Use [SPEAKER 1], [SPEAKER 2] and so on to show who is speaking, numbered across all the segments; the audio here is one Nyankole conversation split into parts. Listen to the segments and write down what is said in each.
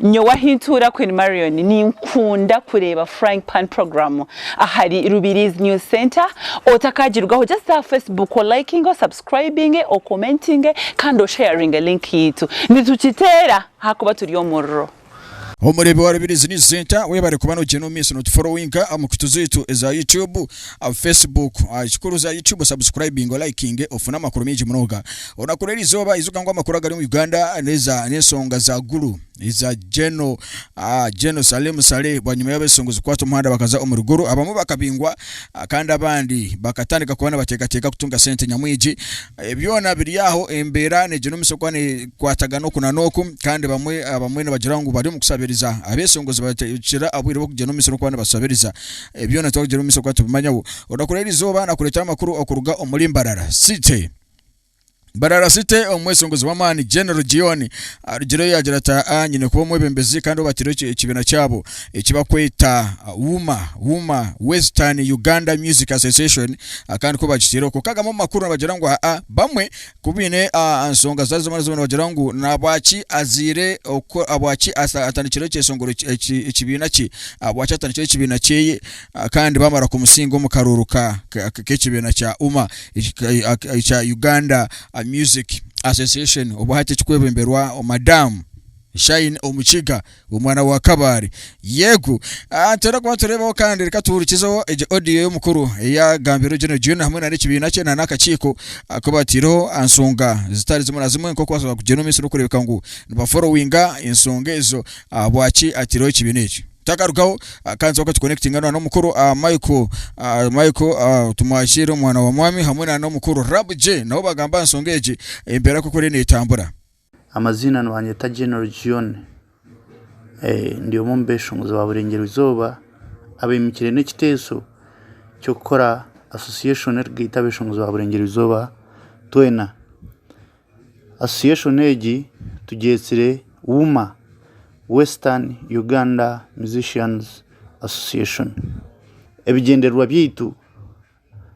[SPEAKER 1] Nyowe ahi ntuura Queen Marion ninkunda kureeba Frying Pan Program ahari Rubiriizi News Centre, otakagirugaho just aha Facebook olayikinge, osubscribinge, okomentinge kandi osheyaringe link yaitu. Nitukiteera ahakuba turi omuriro. Omureebi wa
[SPEAKER 2] Rubiriizi News Centre webare kuba nogyenda omu maisho notuforowinga aha mukutu zaitu eza YouTube Facebook, ekikuru za YouTube subscribinge olayikinge ofune amakuru mingi munonga onakura erizooba ijuka ngu amakuru agari omu Uganda neza n'ensonga za gulu eza Geno ah, Geno Salim Saleh bwanyima y'abesungu zikwata omuhanda bakaza omuri gulu abamu bakabingwa ah, kandi abandi bakatandika kuba nibateekateeka kutunga sente nyamwingi Eh, byona biri aho embeera negyenumisya kuba nekwatagana oku na n'oku kandi bamwe abamwe nibagira ngu bari omu kusabiriza abesungu zibateekyera obwire bw'okugyenumisya n'okuba nibasabiriza Ebi byona twakugira omumaisho kuba tubimanyaho. Orakora eri izooba nakureetera amakuru okuruga omuri Mbarara City. Mbarara City omweshongozi w'amaani General Gion arugireyo yaagira ati aa nyine kuba omwebembezi kandi obatireho ekibiina kyabo eki bakweta WUMA, Wuma Western Uganda Music Association, kandi ku bagitaireho. Kwonka gamwe omu makuru nibagira ngu aa bamwe Ku baine enshonga zitari zimwe na zimwe nibagira ngu nahabwaki azaire ahabwaki atandikire ekyeshongoro ekibiina kye ahabwaki atandikire ekibiina kyeye kandi bamara kumusinga omu karuuru ka k'ekibiina kya UMA ekya Uganda Music Association obu hati ekikwebemberwa Madam Shine Omukiga Omwana wa Kabale. Yego. Ah, nituhera kuba nitureebaho kandi reka tuhurikizeho egi audio y'omukuru eyagambirwe General June hamwe na n'ekibiina kye na n'akakiiko aku bataireho aha nsonga zitari zimwe na zimwe nk'oku basobola kugyenda omu maisho n'okureebeka ngu nibaforowinga ensonga ezo ahabwaki ataireho ekibiina ekyo. Takarugaho ah, kandi twonka tukonekitinga na n'omukuru ah, Michael ah, Michael ah, Tumwakyeire omwana wa mwami hamwe na n'omukuru Rab J nabo bagamba aha nsonga egi embeera nk'oku eriyo netambura. Amaziina
[SPEAKER 3] nibanyeta General John ndi omwe omu beshongozi ba Burengyerwa Izooba abemukire n'ekiteeso ky'okukora association erikugaita abeshongozi ba Burengyerwa Izooba twena. Association egi tugyetsire WUMA, Western Uganda Musicians Association. Ebigyendererwa byaitu.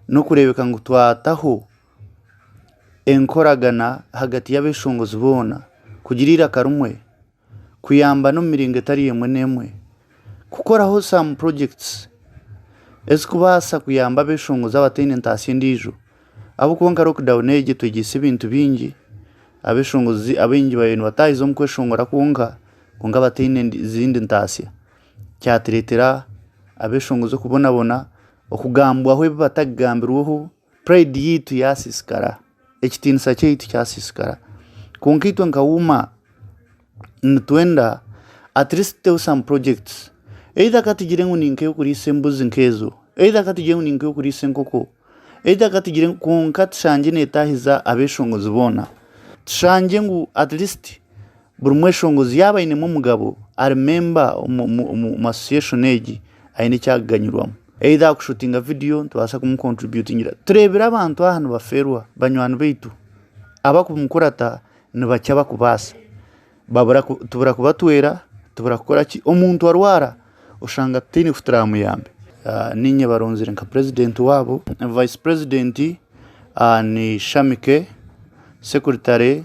[SPEAKER 3] n'okureebeka ngu twataho enkoragana ahagati y'abeeshongozi boona, kugira eiraka rimwe, kuyambana omu miringo etari emwe n'emwe, kukoraho some projects ezikubaasa kuyamba abeeshongozi abataine ntaasya endiijo ahabw'okuba nka lockdown egi etwegyesize ebintu bingi, abeeshongozi abaingi baabaire nibataahiza omu kweshongora kwonka, kwonka bataine zindi ntaasya, kyatureetera abeeshongozi okubonabona. Okugambwaho ebi batakugambirweho, pride yaitu yasisikara, ekitiinisa kyaitu kyasisikara. Kwonka itwe nka UMA nitwenda at least tuteho some projects either ka tugire ngu ni nk'ey'okuriisa embuzi nk'ezo, either ka tugire ngu ni nk'ey'okuriisa enkoko, either ka tugire ngu kwonka tushangye netaahiza abeshongozi boona. Tushangye ngu at least. Buri mweshongozi yaaba ainemu omugabo ari memba omu association egi aine eki arikuganyirwamu. Either ahakushutinga vidiyo nitubaasa kumukontributingira. Tureebire abantu aha nibafeerwa banywani baitu abarikumukurata nibakira abarikubaasa. Tubura kubatwera, tubura kukora ki, omuntu arwara oshanga tutaine ku turamuyambe. Niinye baronzire nka purezidenti waabo. Vice purezidenti ni Shamike, sekuritare.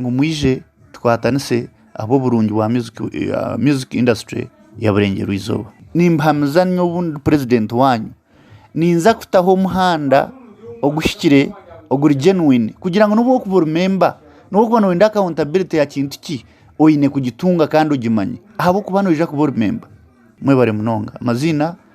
[SPEAKER 3] ngu mwije tukwatanise ahabw'oburungi bwa music industry ya Burengyerwa Izooba. Nimbahamiza nyowe obu ndi president waanyu ninza kutaho omuhanda oguhikire oguri genuine kugira ngu n'obu orikuba ori memba n'obu orikuba noyenda accountability ya kintu ki oyine kugitunga kandi ogimanye ahabw'okuba noija kuba ori memba. Mwebare munonga. Amaziina.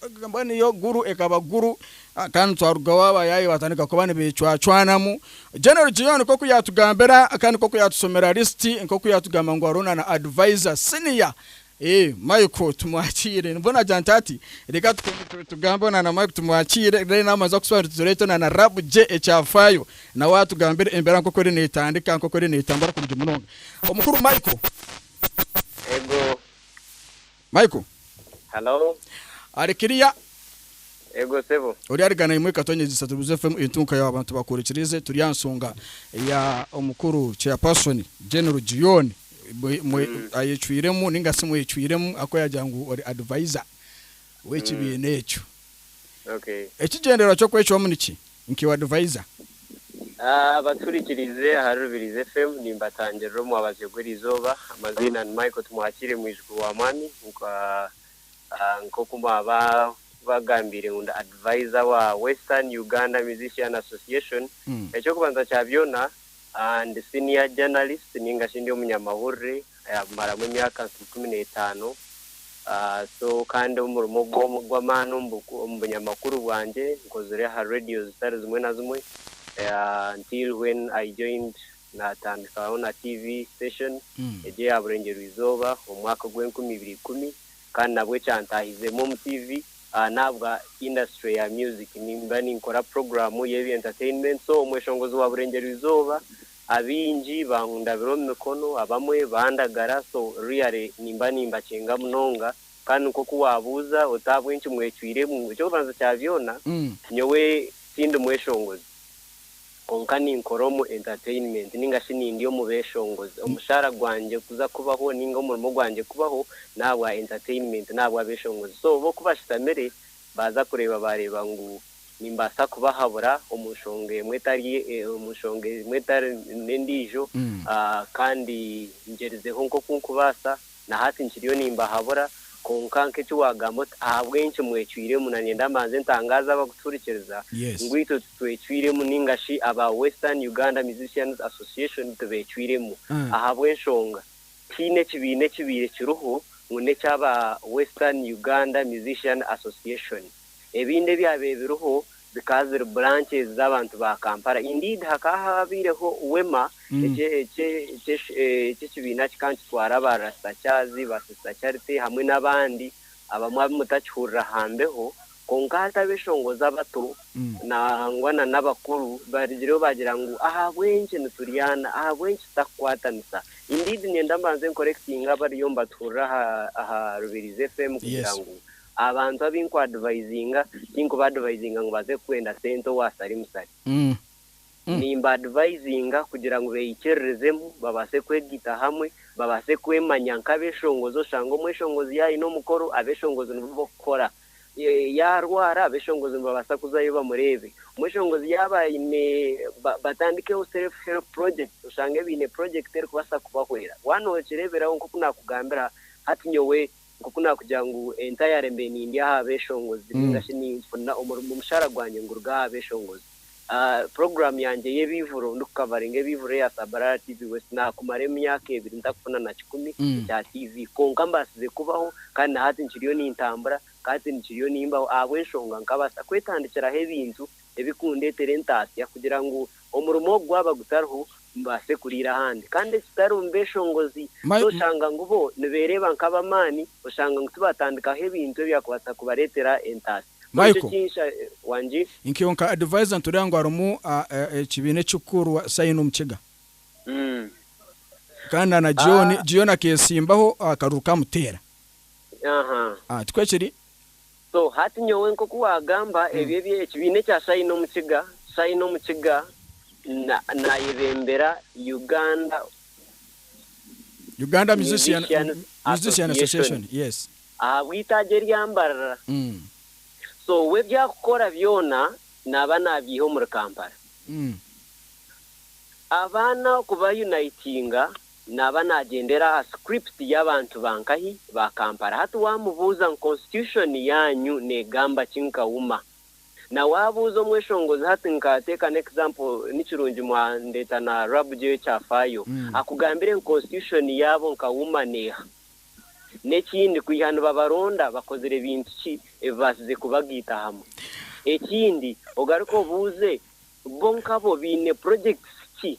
[SPEAKER 2] Ekagamba niyo Gulu ekaba Gulu kandi twarugaho abayaaye batandika kuba nibecwacwanamu. General Gion nk'oku yaatugambira kandi nk'oku yaatusomera lisiti nk'oku yaatugamba ngu hariho na na advisor senior Michael Tumwakiire. Nibwo naagira nti hati reka tuteeme tugambe na na Michael Tumwakiire reero nawe amanze kutusobanurira tureete na na RAB gye ekyafaayo nawe atugambire embeera nk'oku eriyo neetandika nk'oku eriyo neetambura kurungi munonga. Omukuru Michael.
[SPEAKER 4] Eego
[SPEAKER 2] Michael. Hello.
[SPEAKER 4] Ari kiriya. Ego sebo. Ori ari gana imwe katonyegyesa
[SPEAKER 2] tubuze FM entunka ya abantu bakorekirize turi aha nsonga ya omukuru chairperson General Gion mwe ayecwiremu ninga si mwecwiremu akuyagira ngu ori advisor wekibiina ekyo.
[SPEAKER 4] Ekigyendererwa
[SPEAKER 2] ky'okwecwamu niki? Nkiwe advisor. Abaturikiriize
[SPEAKER 4] ahari Rubirizi FM nimbatangirira omwabazyo gw'erizooba. Amaziina ni Michael Tumwakiire mwijukuru wa mwami nka nkoku mwaba bagambiire ngu ndi advisor wa Western Uganda Musician Association. Ekyokubanza kya byoona Ndi senior journalist ninga shi ndi omunyamahurire ayamaramu emyaka nka ikumi n'etaano so kandi omurimo ogu ogw'amaani omu bunyamakuru bwangye nkozire aha radio zitari zimwe na zimwe until when I joined naatandikaho na TV station egyo eya Burengyerizooba omu mwaka gw'enkumi ibiri ikumi. kandi nabwo ekyantaahizeemu omu TV n'ahabwa industry ya music. Nimba ninkora puroguraamu y'ebya entertainment so omweshongozi wa Burengyereizooba abaingi bankundabira omu mikono abamwe bandagara so really nimba nimbakinga munonga kandi nk'oku waabuuza oti ahabw'enki mwecwiremu, eky'okubanza kya byona nyowe tindi mweshongozi. Kwonka ninkora omu entertainment ninga shi nindi omu beshongozi. Omushaara gwangye kuza kubaho ninga omurimo gwangye kubaho nahabwa entertainment nahabwa abeshongozi so bo kubashutamire baza kureeba bareba ngu nimbasa kubahabura omu nshonga emwe etari omu nshonga emwe etari nendijo kandi ngyerizeho nkoku nkubasa. Na hati nkiriyo nimbahabura, kwonka nk'eki waagamba oti ahabw'enki mwecwiremu, nanyenda mbanze ntangaaze abakutuhurikiriza ngu itwe titwecwiremu nainga shi aba Western Uganda Musicians Association tibecwiremu ahabw'enshonga tihaine ekibiina ekibaire kiriho ngu n'eky'aba Western Uganda Musician Association. Ebindi ebyabaire biriho bikaba biri branches z'abantu ba Kampala. Indeed hakaba habaireho Wema ekye ekye ekye eky'ekibiina kikaba nikitwara ba Rasta Charles, ba Sister Charity hamwe n'abandi abamwe abu mutakihurira ha mbeho. Kwonka hataba enshonga z'abato nangwa na n'abakuru barigireho baagira ngu ahabw'enki nituryana, ahabw'enki tutakukwatanisa. Indeed niinyenda mbanze nkorekitinge abariyo nibatuhurira aha aha Rubirizi FM kugira ngu abantu abu ndikwadivayizinga tinkubadivayizinga ngu baze kwenda sente owa sari musari. Nimbadivayizinga kugira ngu beikiririzemu, babaase kwegita hamwe, babaase kwemanya nk'abeshongozi. Oshanga omweshongozi yaayine omukoro, abeshongozi nibo b'okukora. Yaarwara, abeshongozi nibabaasa kuzayo bamureebe. Omweshongozi yaaba aine batandikeho self help projects, oshange baine purojekiti erikubaasa kubahwera. Waaba nookireeberaho nk'oku naakugambira hati nyowe nk'oku naakugira ngu entayare mbe nindya aha beeshongozi nainga shi ninfuna omurimo, omushaara gwangye nguruga aha beeshongozi. Puroguraamu yangye y'ebiiburo ndikukavaringa ebiiburo eya Sabarara TV West naakumara emyaka ebiri ntakufuna na kikumi ekya TV kwonka mbaasize kubaho kandi na hati nkiriyo nintambura kandi nkiriyo nimbaho ahabw'enshonga nkabaasa kwetandikiraho ebintu ebikundeetera entaasya kugira ngu Omurimo ogu gwaba gutariho, mubaase kuriira ahandi. Kandi ekitari omu beeshongozi, nooshanga ngu bo nibeereeba nk'ab'amaani, oshanga ngu tibaatandikaho ebintu ebyakubaasa kubareetera entaasa.
[SPEAKER 2] Michael,
[SPEAKER 4] Nkaiwe nka Advisor
[SPEAKER 2] nitureeba ngu harimu ekibiina ekikuru Sayuni omu Kiga. Kandi na Gion akeetsimbaho akaruru ka Muteera. Tikwo kiri? So hati
[SPEAKER 4] nyowe nk'oku waagamba ebyo ebi ekibiina ekya Shine omu Kiga, Shine omu Kiga na, naayebembera Uganda Uganda Musician, Musicians Musician Association. Association, yes. ahabw'eitaagi erya Mbarara. Mm. So we ebyakukora byona naaba naabiiha omuri Kampala. Mm. Abaana kuba unitinga. Naaba naagyendera aha script y'abantu ba nkahi? Ba Kampala. Hati waamubuuza ngu Constitution yaanyu neegamba ki nka UMA? Na waabuuza omweshongozi hati nka take an example ni kirungi mwandeeta na Rab J Kyafaayo, akugambire ngu Constitution yaabo nka UMA n'eha? N'ekindi kwiha nibabaronda bakozire bintu ki ebibaasize kubagaitahamu? Ekindi ogaruke obuuze bo nkabo baine projects ki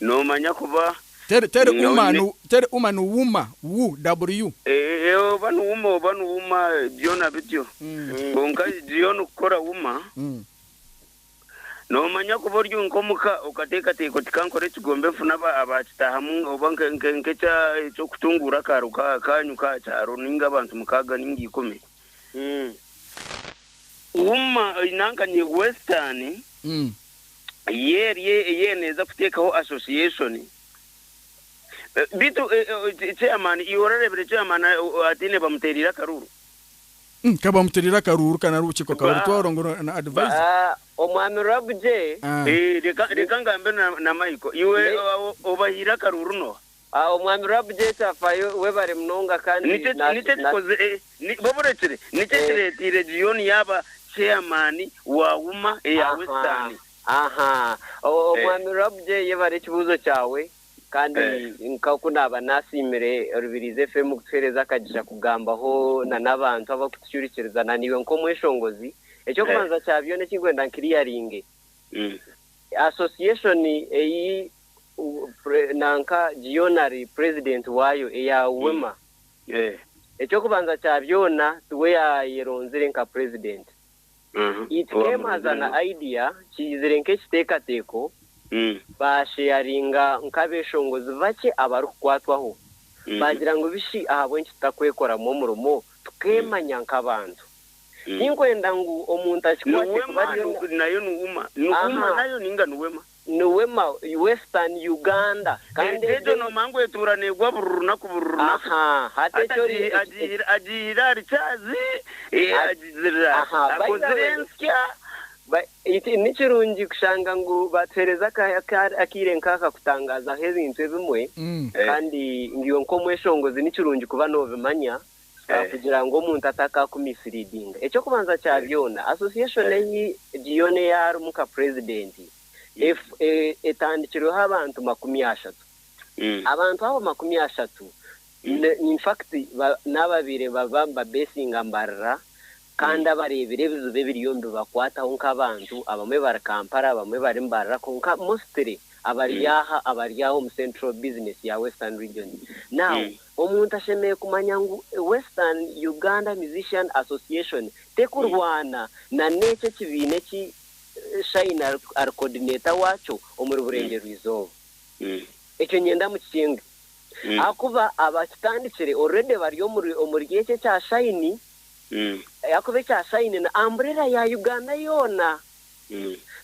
[SPEAKER 5] Noomanya kuba Teri,
[SPEAKER 2] teri niinye uma, oine. nu, teri uma, ni wuma, wu-w-u. Ee, oba ni wuma,
[SPEAKER 5] oba ni wuma, byona bityo. Kwonka Zion kukora wuma. Noomanya kuba ori nk'omuka, okateekateeka oti, Ka nkore ekigombe nfune aba, abaakitaahamu, oba nke, nke, nk'ekya, eky'okutunguura akaaro ka, kaanyu k'aha kyaro, nainga abantu mukaaga nainga ikumi. Wuma, oine anka ni Western, ye eri eyeena eza kuteekaho association beitu chairman iwe orareebire chairman ataine bamuteereire akaruuru? Ka
[SPEAKER 2] bamuteereire akaruuru ka nari obukiiko ka Orutwaro ngu na adviser. Omwami
[SPEAKER 4] Rwabugye. Reka
[SPEAKER 5] ngambe na Michael, iwe obahaire akaruuru nooha? Awo Omwami Rab
[SPEAKER 4] J. Tafayo, webare munonga kandi Nikyo na, nikyo na, kikoze,
[SPEAKER 5] eh, ni, baba orekire, nikyo eh, ekireeteire Gion yaaba chairman wa UMA eya aha, Western. aha.
[SPEAKER 4] O, Eh, Omwami Rab J. yebare ekibuuzo kyawe, kandi eh. nk'oku naaba naasiimire Rubirizi FM kutuheereza akagisha kugambaho na n'abantu abakutucurikiriza, na naiwe nk'omweshongozi, eky'okubanza kya byona eki nkwenda nkiriyaringe, Mm. Association ei nanka Giona ari purezidenti waayo eya UWEMA. Eky'okubanza kya byona tiwe yaayeronzire nka purezidenti. It came as an idea, kiizire nk'ekiteekateeko, baasheyaringa nk'abeeshongozi bakye abarikukwatwaho, baagira ngu bishi ahabw'enki tutakwekoramu omurimo tukeemanya nk'abantu. Tinkwenda ngu omuntu akikwate kuba
[SPEAKER 5] ari. Aha. Niwe ma
[SPEAKER 4] western Uganda kandi egyo. Egyo noomanya
[SPEAKER 5] ngu etuura neegwa buri runaku buri runaku. Ahaa hati ekyo
[SPEAKER 4] ori Agihi agihire agihire ahari
[SPEAKER 5] caazi eh, Ati, agizirira aha, by the akozire way. ensya. Ba-
[SPEAKER 4] eki- Ni kirungi kushanga ngu baatuheereza aka- aka- akaire nk'aka kutangaazaho ebintu ebimwe Mm. Eh. kandi ngu iwe nk'omweshongozi ni kirungi kuba noobimanya kugira ngu omuntu atakaakumisiriidinga. Eky'okubanza kya byona, association ei Gion eyaarimu nka purezidenti etandikirweho abantu makumi ashatu. Abantu abo makumi ashatu in fact n'ababaire baba nibabeesinga mbarira kandi abareebire ebizibu ebiriyo nibibakwataho nk'abantu. Abamwe bari Kampala, abamwe bari Mbarira kwonka mostly abari aha abari aha omu central business ya Western Region. Now, Omuntu ashemereire kumanya ngu Western Uganda Musician Association tekurwana na n'ekyo ekibiina eki Shine ari coordinator wakyo omuri Burengyerwa-Izooba. Ekyo nyenda mukikinge ahakuba abakitandikire already bari omuri ekyo ekya Shine ahakuba ekya Shine ni umbrella ya Uganda yoona.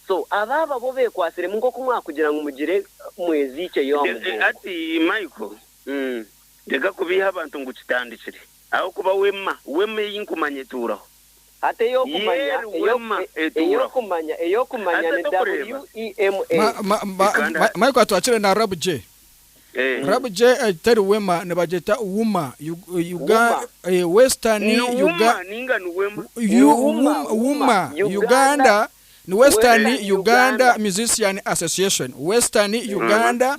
[SPEAKER 4] So abo ababo bekwasiremu nk'oku mwakugira ngu mugire mweziikye yo aha mugongo. Hati Michael,
[SPEAKER 5] Reka kubiiha abantu ngu kitandikire. Ahakuba wema, wema ei nkumanya etuuraho. Hati
[SPEAKER 4] ey'okumanya, ey'okumanya, ey'okumanya ni WEMA. Michael atwakire
[SPEAKER 2] na Rab J. Rab J teri wema, nibagyeta wuma. Western Wuma Uganda ni Western Uganda Musician Association. Western Uganda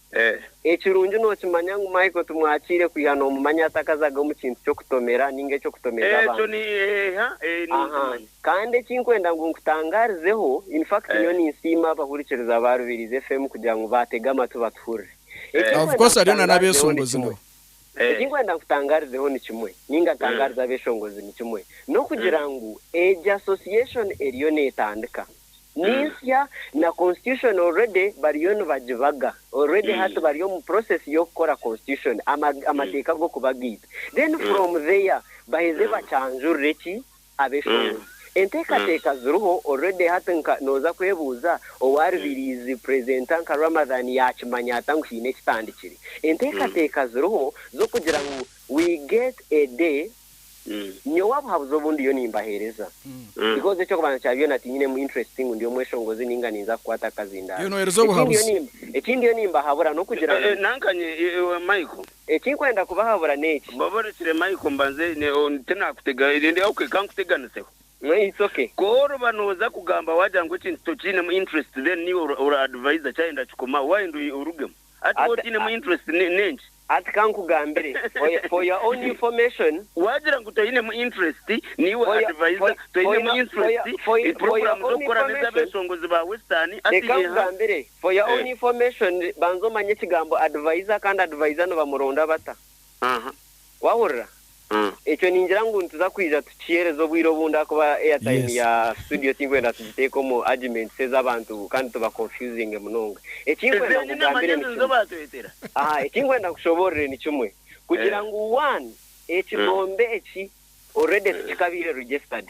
[SPEAKER 4] Ekirungi nookimanya ngu Michael tumwakiire kwiha noomumanya atakazaga omu kintu ky'okutomera ninga eky'okutomeza abantu. Aha. Kandi eki nkwenda ngu nkutangaarizeho, in fact nyowe ninsiima abahurikiriza ba Rubirizi FM kugira ngu baatege amatu batuhurire. Eki Of nkwenda course hariyo na nkutangaarizeho
[SPEAKER 2] ni n'abeeshongozi kimwe. nabo. Eki nkwenda
[SPEAKER 4] nkutangaarizeho ni kimwe, ninga ntangaarize abeeshongozi ni kimwe, n'okugira ngu egi association eriyo neetandika. ninsya na constitution already bariyo nibagibaga already hati bari omu process yokukora constitution amateeka gokubagaita then from there baheze bakyanjurire ki abeshongozi enteekateeka ziriho already hati nka noza kwebuuza owaribaire is presenter nka Ramadhan yakimanya ata ngu haine ekitandikire enteekateeka ziriho zokugira ngu we get a day Nyowe abuhabuzi obu ndiyo nimbahereza, because ekyokubanza kya byona tinyinemu interest ngu ndi omweshongozi ninga ninza kukwata akazindaaro.
[SPEAKER 2] Eki ndiyo nimbahabura
[SPEAKER 4] nokugira ngu. Nankanye iwe
[SPEAKER 5] Michael. Eki nkwenda kubahabura
[SPEAKER 4] neki. Baba orekire Michael
[SPEAKER 5] mbanze tinakutega rindi ok kankuteganiseho. No it's ok.
[SPEAKER 4] Ku oriba noza
[SPEAKER 5] kugamba wagira ngu ekintu tokinemu interest then niiwe ora adviser kyayenda kikomaho wayenda orugemu. Hati waaba otainemu interest n'enki? Hati ka nkugambire,
[SPEAKER 4] for your own information. Waagira ngu toinemu
[SPEAKER 5] interest, niiwe advisor, toinemu interest, puroguramu z'okukora n'ez'abeeshongozi ba Western, hati eha? Reka nkugambire, for your
[SPEAKER 4] own information, banza omanye ekigambo advisor kandi advisor nibamuronda bata. Wahurira? Ekyo ningira ngu nituza kwija tukihereza obwire obundi ahakuba airtime ya studio tinkwenda tugiteeke omu arguments ez'abantu kandi tuba confusinge munonga. Ekinkwenda nkugambire ni kimwe. Aha, ekinkwenda nkushoboorore ni kimwe. Kugira ngu one, ekigombe eki already tikikabaire registered.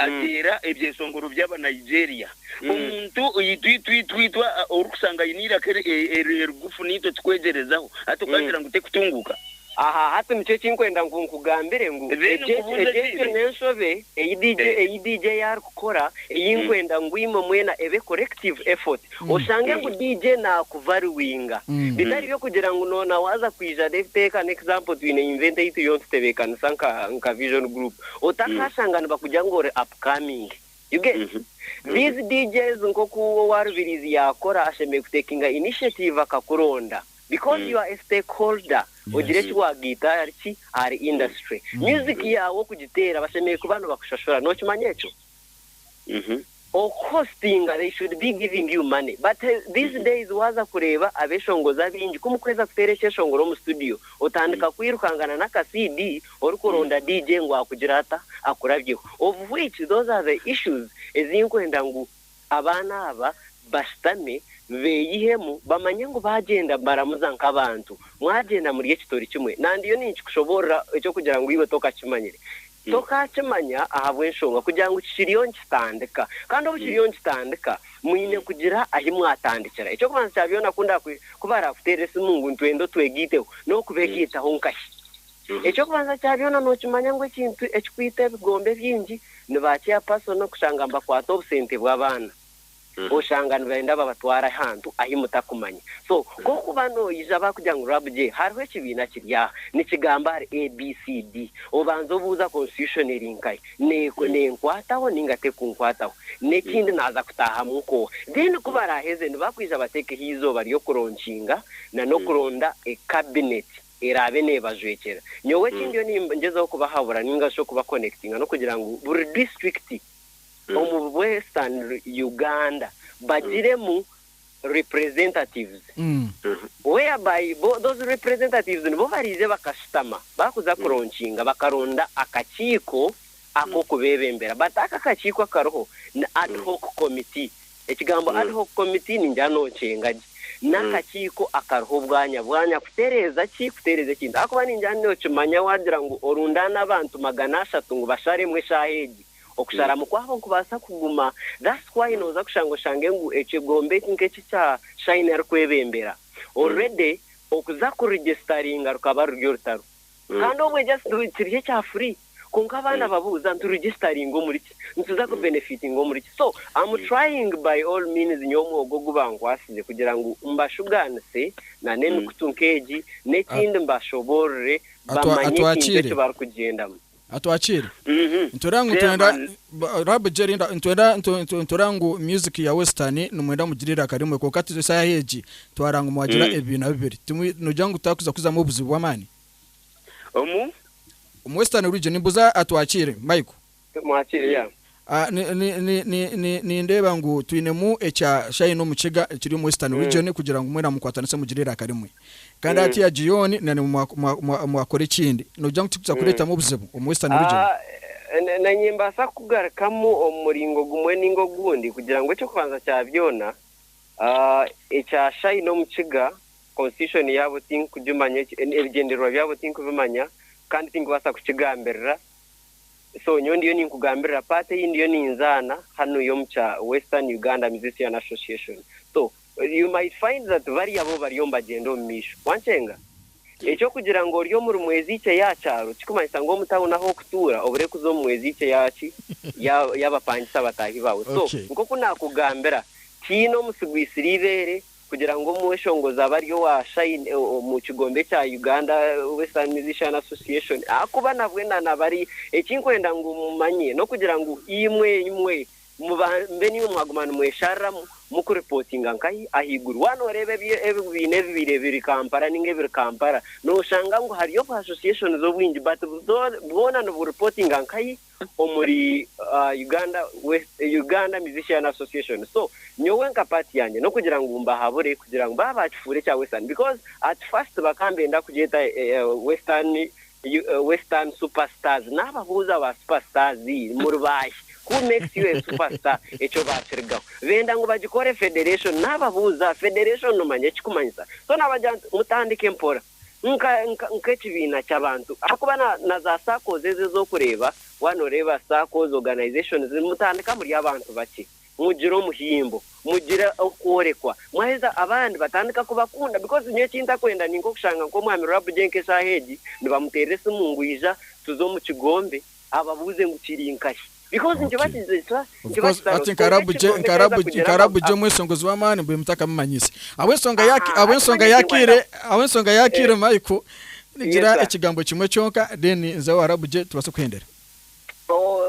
[SPEAKER 5] Ateera ebyeshongoro by'aba Nigeria. Omuntu itwitwitwitwa orikushanga aine eiraka erigufu naitwe tukwegyerezaho hati okagira ngu tekutunguuka? Aha hati
[SPEAKER 4] nikyo eki nkwenda ngu nkugambire ngu egyo egyo n'enshobe ei DJ ei DJ arikukora ei nkwenda ngu imwe mwena ebe collective effort. Oshange ngu DJ naakuvaluinga bitari by'okugira ngu noona waaza kwija rev take an example twine event ei turiyo nitutebeekanisa nka nka Vision Group Otakaashanga nibakugira ngu ori upcoming. You get? These DJs nk'oku owa Rubirizi yaakora ashemereire kutekinga initiative akakuronda because you are a stakeholder ogire eki waagaita ahari ki? Ahari industry. Music yaawe okugiteera bashemereire kuba nibakushashura. Nookimanya ekyo? Oku hostinga they should be giving you money but these days waza kureeba abeshongozi abaingi kumukweza kuteera ekyeshongoro omu studio otandika kwirukangana naka CD orikuronda DJ ngu akugire ata akurabyeho of which those are the issues ezinkwenda ngu abaana aba bashutame beyihemu bamanye ngu bagyenda nibaramuza nkabantu mwagyenda muri ekitori kimwe nandiyo ninkikushoborora ekyokugira ngu iwe tokakimanyire Tokaakimanya ahabw'enshonga kugira ngu kikiriyo nikitandika. Kandi obu kiriyo nikitandika, mwine kugira ahi mwatandikira. Eky'okubanza kya byona, ku ndakwe, ku baraakuteera esimu ngu nitwenda otwegaiteho, n'okubegaitaho nkahi? Eky'okubanza kya byona nookimanya ngu ekintu ekikwita ebigombe bingi ni ba chairperson kushanga nibakwata obusente bw'abaana. Oshanga nibenda babatware ahantu ahi mutakumanya. So ku okuba noija bakugira ngu RABJ hariho ekibiina kiri aha nikigamba ahari ABCD, obanza obuuza Constitution eri nkahi? Nenkwataho ninga tekunkwataho? Nekindi naza kutahamu nkoha? Then ku baraheze nibakwija batekeho eizooba ryokuronkinga na nokuronda e Cabinet erabe nebajwekyera. Nyowe eki ndiyo ningyezaho kubahabura ninga shi okuba connectinga nokugira ngu buri district, omu western Uganda bagiremu representatives whereby those representatives nibo bariija bakashutama bakuza kuronkinga bakaronda akakiiko akokubebembera but ako akakiiko akariho ni adhoc committee ekigambo adhoc committee ningira nokyenga gye nakakiiko akariho bwanya bwanya kutereeza ki kutereeza ekintu ahakuba ningira nokimanya wagira ngu orundaane abantu magana ashatu ngu basharemu eshaaha egi Okusharamu kwabo nikubaasa kuguma that's why nooza kushanga oshange ngu ekigombe eki nk'eki kya Shine arikwebembera already okuza ku registeringa rukaba ruri orutaro kandi obwe just kiri ekya free kwonka abaana babuuza nti registeringa omuri ki? Nituza ku benefitinga omuri ki? So am trying by all means nyowe omwogo ogu bankwatsize kugira ngu mbashugaanise na n'emikutu nk'egi n'ekindi mbashoboorore bamanye ekintu eki barikugyendamu. Atwakire.
[SPEAKER 2] Nitureeba ngu nitwenda Rabi Jerry nitwenda nitureeba ngu music ya western nimwenda mugire eiraka rimwe kwonka eshaaha egi twareeba ngu mwagira ebibiina bibiri. Noogira ngu tiharikwija kuzamu obuzibu bw'amaani? Omu? Omu western region. Nimbuuza Atwakire Michael. Tumwakire ya. Nindeeba ngu twinemu ekya Shine Omukiga ekiri omu Western Region kugira ngu mwena mukwatanise mugire eiraka rimwe. Kandi hati ya Gion nanye mwakora ekindi nogira ngu tikikuza kureetamu obuzibu omu Western Region? Nanye
[SPEAKER 4] nimbaasa kukugarukamu omu muringo gumwe ninga ogundi kugira ngu eky'okubanza kya byona ekya Shine Omukiga Constitution yaabo tinkugimanya, ebigyendererwa byabo tinkubimanya kandi tinkubaasa kukigambirira. So nyowe ndiyo ninkugambirira part eyi ndiyo ninzaana hanu yomu kya Western Uganda Musician Association so you might find that bari abo bariyo nibagyenda omu maisho wankyenga. Ekyokugira ngu ori omuri mwezi ikye ya kyaro kikumanyisa ngu omu town ahu okutuura obure kuza omu mwezi ikye ya ki ya yabapangisa bataahi baawe so nkoku nakugambira tiine omusigwisire ibeere Kugira ngu omweshongozi abe ari owa Shine omu kigombe kya Uganda Western Musician Association ahakuba nabwe nanaba ari, ekinkwenda ngu mumanye n'okugira ngu imwe imwe mube nimwe mwaguma nimweshariramu mukuripotinga nkahi ahaiguru. Waaba noreeba ebibiina ebibaire biri Kampala ninga ebiri Kampala noshanga ngu hariyo obu associations obwingi but bwona niburipotinga nkahi? omuri Uganda West Uganda Musician Association so nyowe nka part yangye nokugira ngu mbahabure kugira ngu baba bakifuura ekya western because at first bakaba nibenda kugyeta western western super stars nababuuza ba super stars muri baahi who makes you a super star ekyo bakirigaho benda ngu bagikore federation nababuuza federation nomanya ekikumanyisa so nabagira nti mutandike mpora. nk'ekibiina ky'abantu ahakuba na za saakoozi ezi ez'okureeba waaba nooreeba saakoozi, organisations, mutandika muri abantu bakye, mugire omuhimbo, mugire okworekwa mwaheza abandi batandika kubakunda because nyowe eki ntakwenda ninka okushanga nk'omwami Rwabugye nk'eshaaha egi nibamuteera esimu ngu ija tuze omu kigombe ababuuze
[SPEAKER 2] ngu kiri nkahi. Hati nkarabugye omweshongozi w'amaani mbwenu mutakamumanyise. Ahabw'enshonga yaakiire Michael, nigira ekigambo kimwe kyonka then nze owarabugye tubaase kuhendera.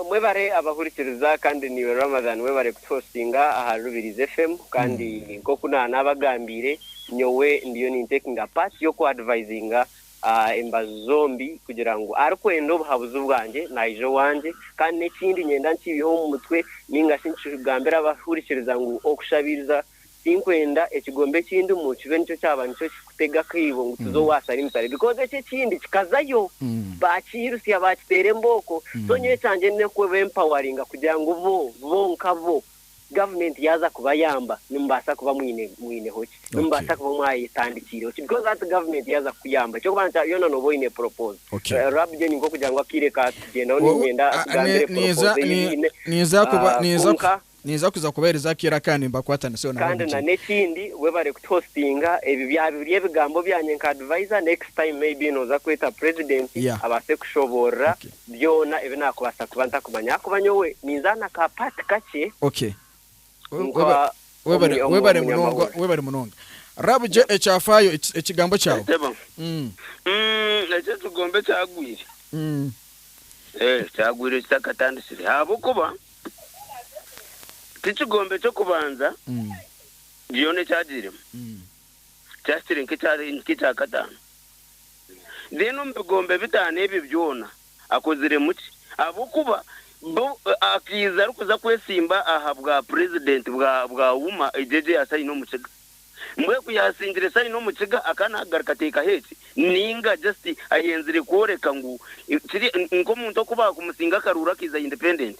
[SPEAKER 4] Mwebare abahurikiriza kandi niiwe Ramadhan webare kutuhostinga aha Rubirizi FM kandi nk'oku naabagambiire nyowe ndiyo nintakinga part y'oku advisinga embaju zombi kugira ngu arikwenda obuhabuzi bwangye naija owangye. Kandi n'ekindi nyenda nkiibeho omu mutwe ninga shi nkigambire abarikuhurikiriza ngu okushabiriza tinkwenda ekigombe ekindimu kibe nikyo kyaba nikyo kikutega akaibo ngu tuze owa salimitare because ekyo ekindi kikazayo baakiirutsya baakiteera embooko so nyowe ekyangye n'okubempawaringa kugira ngu bo bonka bo gavumenti yaaza kubayamba nimubaasa kuba mwineho ki? Nimubaasa kuba mwayetandikiireho ki? Because hati gavumenti yaaza kukuyamba eky'okubanza kya byona nooba oine propose. Rabjo ni nk'okugira ngu akaire kaatugyendaho niinyenda nkugambire propose ei biine kwonka. Ninza kuza kubaheereza akaire akandi nimbakwataniseho nabo omu kigo. Kandi n'ekindi webare kutuhositinga, ebi byaba biri ebigambo byangye nka advisor, next time maybe nooza kweta purezidenti abaase kushoboorora Byona ebi nakubaasa kuba ntakumanya ahakuba nyowe ninzaana ka part kakye Ok. nka Webare omu- webare munonga omunyamahoro. webare munonga. Rab gye ekyafaayo eki-
[SPEAKER 2] ekigambo kyawe. Entebe. Mm. Mm, ekyo
[SPEAKER 5] ekigombe ekyagwire. Mm. Eh, kyagwire kitakatandikire. Ahabw'okuba tikigombe ky'okubanza Mm. byona ekyagiiremu. Mm. Kyahikire nk'ekya nk'ekyakataano. Then omu bigombe bitaano ebyo byona akoziremu ki? Ahabw'okuba bo akaiza arikuza kwesimba aha bwa president bwa bwa UMA egyo egyo yasaina omu kiga. Mbwenu ku yaasingire saini omu kiga akaba naagaruka ateekaho eki? Nainga just ayenzire kworeka ngu kiri nk'omuntu oku baakumusinga akaruuru akaiza independent.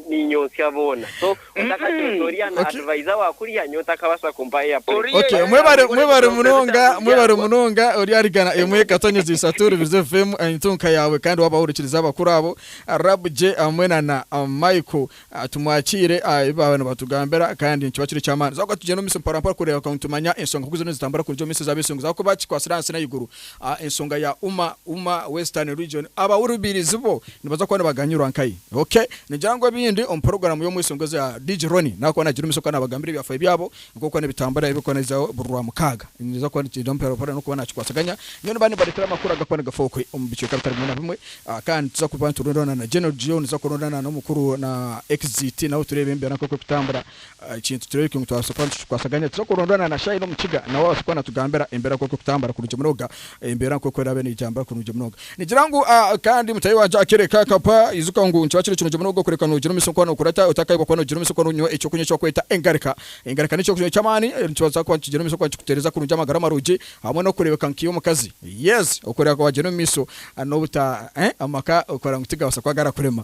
[SPEAKER 4] ninyontsya boona so otakatyontsa orya na adviser wa kurya nyowe takabasa kumpa eya plate. Ok mwebare
[SPEAKER 2] mwebare munonga mwebare munonga ori ahari gana emwe katonyeza isatu rubiriza evemu entunka yawe kandi waba wahurikiriza abakuru abo rab gye hamwe na na Michael tumwakiire aha ebi baba nibatugambira kandi nikiba kiri ekyamaani tuza kuba tugyenda omu misyo mpora mpora kureba ngu nitumanya ensonga nkuziriyo nizitambura kurugye omu minsi za besungu za kuba kikwatsire ahansi na ahaiguru Aha ensonga ya Uma Uma, Western Region, abahurubirizi bo nibaza kuba nibaganyirwa nkai? OK. Ningira ngu ebindi omu puroguramu y'omweshongwe za DJ Ronnie naaba kuba naagirumiisa kwonka naabagambira ebyafaayo byabo nk'oku kuba nibitambura ebiri kuba nibiza buri Rwamukaaga. Nibiza kuba nikiija mpora mpora n'okuba naakikwasaganya. Nyowe nimba nimbaleetera amakuru agakuba kuba nigafa okwe omu bicweka bitari bimwe na bimwe. Kandi nituza kuba niturundaana na General Geo, nituza kurundaana n'omukuru na Exit nabo tureebe embeera nk'oku ekutambura. Ekintu tureebekyo ngu twabaasa kuba nitukikwasaganya tuza kurondana na Shaina omu kiga nawe abaase kuba naatugambira embeera nk'oku erikutambura kurungi munonga, embeera nk'oku eraabe neetambura kurungi munonga. Nigira ngu kandi mutaahi wangye akeereka akapa, ijuka ngu nikiba kiri kirungi munonga kureka noogira omu isokwe hanuunkura ota otakaayebwa kuba noogira omu isokwe noonywa ekyokunywa eki barikweta engarika. Engarika n'ekyokunywa ky'amaani nikibaasa kuba nikigira omu isokwe nikikuteereza kurungi amagara marungi hamwe n'okureebeka nk'omukazi. Yes, okureka waagyenda omu maiso n'obuta amaka okora ngu tigabaasa kuba garakurema.